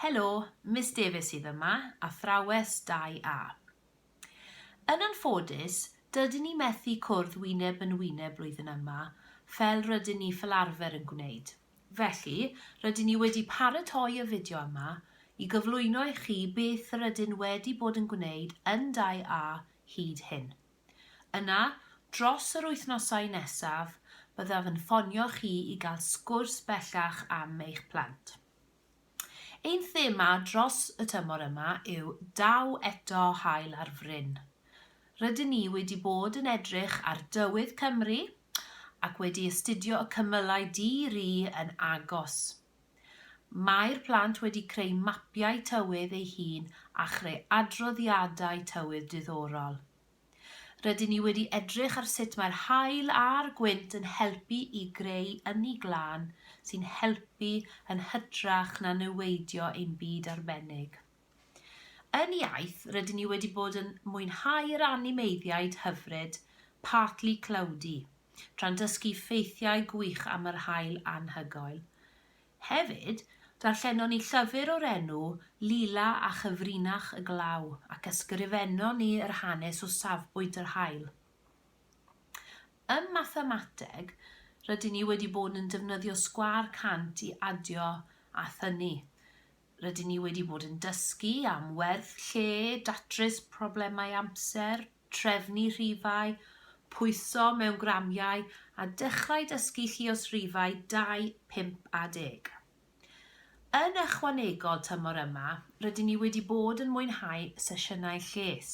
Helo, Miss Davies sydd yma, athrawes 2A. Yn anffodus, dydyn ni methu cwrdd wyneb yn wyneb blwyddyn yma, fel rydyn ni fel arfer yn gwneud. Felly, rydyn ni wedi paratoi y fideo yma i gyflwyno i chi beth rydyn wedi bod yn gwneud yn 2A hyd hyn. Yna, dros yr wythnosau nesaf, byddaf yn ffonio chi i gael sgwrs bellach am eich plant. Ein thema dros y tymor yma yw Daw Eto Haul ar Fryn. Rydyn ni wedi bod yn edrych ar dywydd Cymru ac wedi astudio y cymylau di-ri yn agos. Mae'r plant wedi creu mapiau tywydd eu hun a chreu adroddiadau tywydd diddorol. Rydyn ni wedi edrych ar sut mae'r haul a'r gwynt yn helpu i greu ynni glân sy'n helpu yn hytrach na niweidio ein byd arbennig. Yn iaith, rydyn ni wedi bod yn mwynhau yr animeiddiaid hyfryd Partly Cloudy, tra'n dysgu ffeithiau gwych am yr haul anhygoel. Hefyd, darllenon ni llyfr o'r enw Lila a Chyfrinach y Glaw ac ysgrifennon ni yr hanes o safbwynt yr haul. Ym mathemateg, rydyn ni wedi bod yn defnyddio sgwâr cant i adio a thynnu. Rydyn ni wedi bod yn dysgu am werth lle, datrys problemau amser, trefnu rhifau, pwyso mewn gramiau a dechrau dysgu lluos rhifau 2, 5 a 10. Yn ychwanegol tymor yma, rydyn ni wedi bod yn mwynhau sesiynau lles.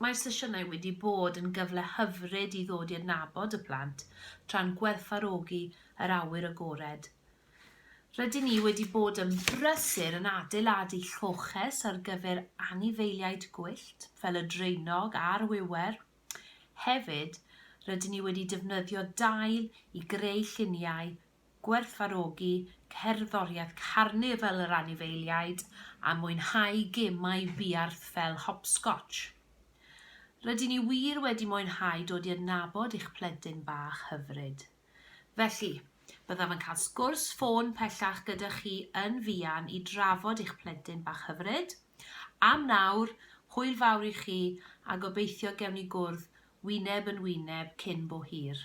Mae'r sesiynau wedi bod yn gyfle hyfryd i ddod i adnabod y plant tra'n gwerthfawrogi yr awyr agored. Rydyn ni wedi bod yn brysur yn adeiladu lloches ar gyfer anifeiliaid gwyllt fel y draenog a'r wiwer. Hefyd, rydyn ni wedi defnyddio dail i greu lluniau gwerthfawrogi cerddoriaeth carnifal yr anifeiliaid a mwynhau gemau buarth fel hopscotsh. Rydyn ni wir wedi mwynhau dod i adnabod eich plentyn bach hyfryd. Felly, byddaf yn cael sgwrs ffôn pellach gyda chi yn fuan i drafod eich plentyn bach hyfryd. Am nawr, hwyl fawr i chi a gobeithio gewn ni gwrdd wyneb yn wyneb cyn bo hir.